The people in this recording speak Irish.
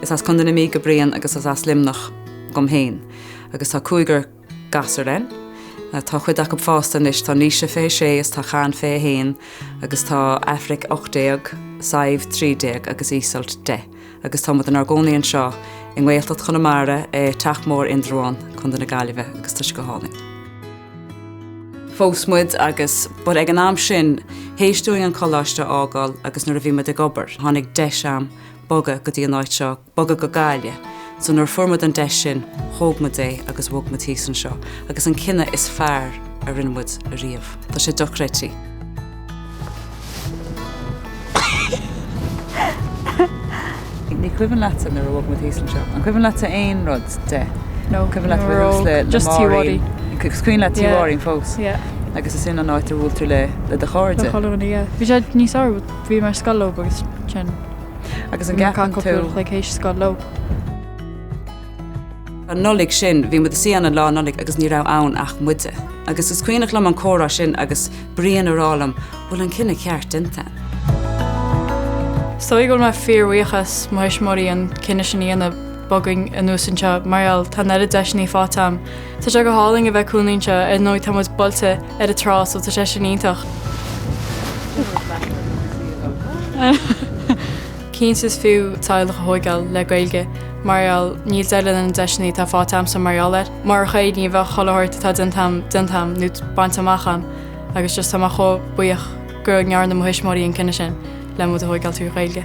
Is as Contae na Mí do Brian agus is as Luimneach dhom féin agus tá cúigear gasúr againn. Tá cuid acu fásta anois, tá Naoise 26 is tá Cian 21 agus tá Aifric 18, Sadhbh 13 agus Iseult 10. agus tá muid inár gcónaí anseo i nGaeltacht Chonamara i Teach Mór Indreabhán, Co. na Gaillimhe agus tá sé go hálainn. phós muid agus but ag an am sin théis dúinn an coláiste a fhágáil agus nuair a bhí muid ag obair tháinig deis agam bogadh go dtí an áit seo, bogadh go Gaillimh. So nuair a fuair muid an deis sin thóg muid é agus bhog muid thíos anseo agus an cinneadh is fearr a rinne muid ariamh. Tá sé dochreidtí. Ní cuimhin leatsa nuair a bhog muid thíos anseo. An cuimhin leatsa aon rud de? No. Cuimhin leat bheith thuas le na Máirín? Is cuimhin leat Tír Árainn fós? Yeah. Agus is sin an áit a bhuail tú le do chairde? Do cholúin, yeah. Bhí sé níos fhearr, bhí mé ar scoil leo agus sin. Agus an gceapann tú? Bhí mé ar an gcapall cúpla chloig théis scoil leo. An Nollaig sin bhí muid ina suí ann Lá Nollaig agus ní raibh ann ach muide. Agus is cuimhneach liom an comhrá sin agus Brian ag rá liom, bhfuil an cinneadh ceart déanta. So go bhfuil mé fíorbhuíoch as mo thuismitheoirí an cinneadh sin a dhéanamh bogadh anuas anseo mar gheall tá an oiread deiseanna faighte agam. Tá sé go hálainn a bheith i gcónaí anseo, ar ndóigh tá muid buailte ar an trá so tá sé sin iontach. Cinnte is fiú teaghlach a thóigeáil le Gaeilge mar gheall, níl deireadh leis na deiseanna atá faighte agamsa mar gheall air. Murach é ní bheadh chuile shórt atá déanta agam déanta agam nó bainte amach agam agus just tá mé chomh buíoch go ndearna mo thuismitheoirí an cinneadh sin le muid a thóigeáil trí Ghaeilge.